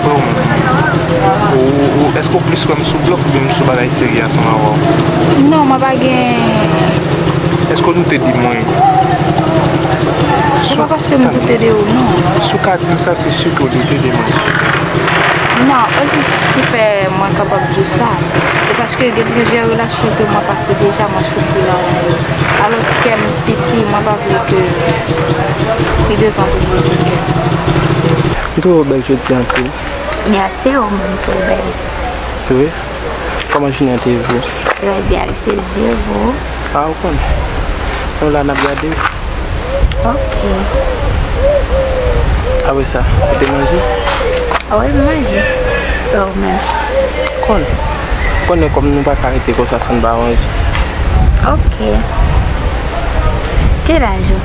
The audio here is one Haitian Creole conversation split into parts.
Freo m ou eske ou plis wem sou blòf oubyen sou bagay serye a san wawaw. Non mwen pa gen. Eske w doute de mwen? Se pa paske m doute de ou non. Si w ka di m sa se si ke w doute de mwen. Non, o jis ki fè mwen kapab di w sa, se paske gen plizyè relasyon ke mwen pase deja mwen soufri nan men yo. Alò ti kè m piti mwen pa vle ke pi devan pou brize kè. M twouve w bèl jodi anpil. Merci ou menm tou bèl. Wi. Kòman jounen an te ye pou ou? Trè byen ak Jezi e pou ou? A ou konnen. Nou la n ap gade w. Ok. Apre sa, ou te manje? Wi m manje. E ou menm? M konnen. M konnen kòm nou pa ka rete konsa san n pa manje. Ok. Ki laj ou?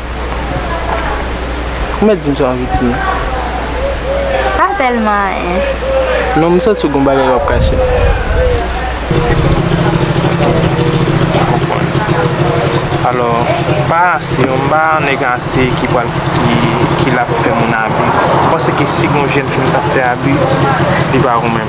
Ou mèt di m sa w anvi di m. Pa tèlman anyen. Non m santi w gen yon bagay w ap kache. M konprann. Alò, pa ase non, m pa yon nèg ase ki pral, ki la pou fè moun abi. Ou panse ke si gen yon jèn fi m ta fè abi, li va renmen m?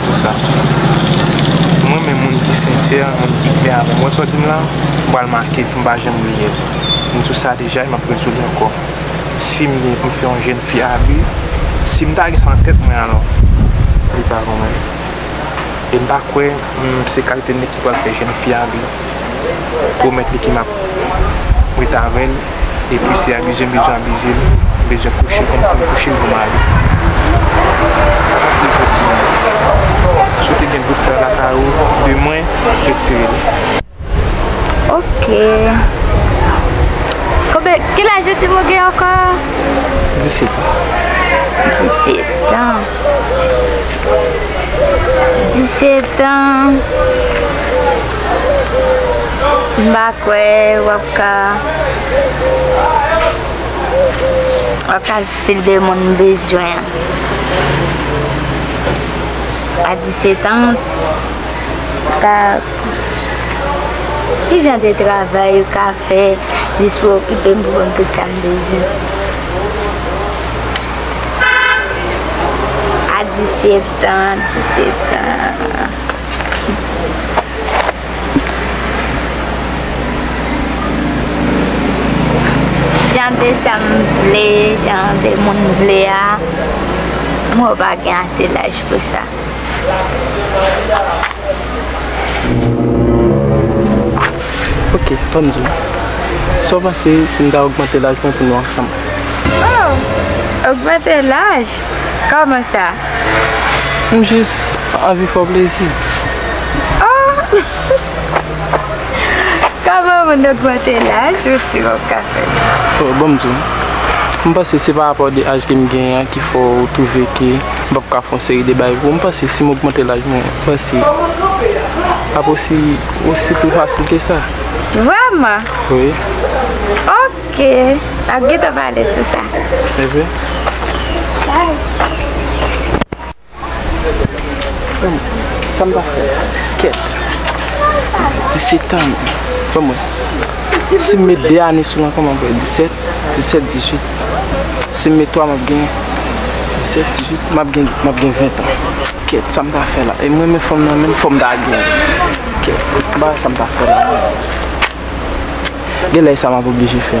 Pou sa m renmen moun ki sensè, moun ki klè avè m. Wè sa w di m la? M pral make l pou m pa janm bliye l. M di w sa deja e m ap redi w li ankò. Si m gen pou m fè yon jenn fi abi, si m ta gen sa nan tèt mwen alò, li pa pou mwen. E m pa kwè m se kalite nèg ki pral fè jenn fi abi. pwomèt li ke map ret avèl epi se abize m bezwen abize l m bezwen kouche l konn finn kouche l pou m ale apati de jodi an si w te gen bout sa yo lakay ou de mwen retire l. Ok Kobe kilaj ou di m ou gen ankò? 17 an. 17 an. 17 ans mba kwè wap ka wap ka di stil de moun m bezwen a 17 ans ta ki jan de travay ou ka fè jis pou okipe m pou banm tout sam bezwen. A 17 ans 17 ans Jan de sa m vle Jan de moun m vle a Mwen pa gen ase laj pou sa Ok tann di m Sa w panse si m ta ogmante laj mwen pou nou ansanm Oh! Ogmante laj? Kòman sa? M jis anvi fè w plezi. Oh! Kòman moun ogmante laj ou si wap ka fè sa? Oh, banm di w. M panse se pa rapò de aj ke m genyen an ki fè w twouve ke m pap ka fè yon seri de bagay pou w. M panse si m ogmante laj mwen, m panse ap osi, osi pi fasil ke sa. Vrèman? Wi. Ok. Ok, map gentan pale sou sa. Sa m ta fè? Kèt. 17 an. Ban mwen. Si m met 2 ane sou lan kòman m fè? 17, 17, 18. Si m met 3 m ap gen 17, 18. M ap gen, m ap gen 20 an. Kèt, sa m ta fè la? E m renmen fanm nan menm, fò m ta gen. Kèt, m pa wè sa m ta fè la. Gen lè e sa map oblije fè.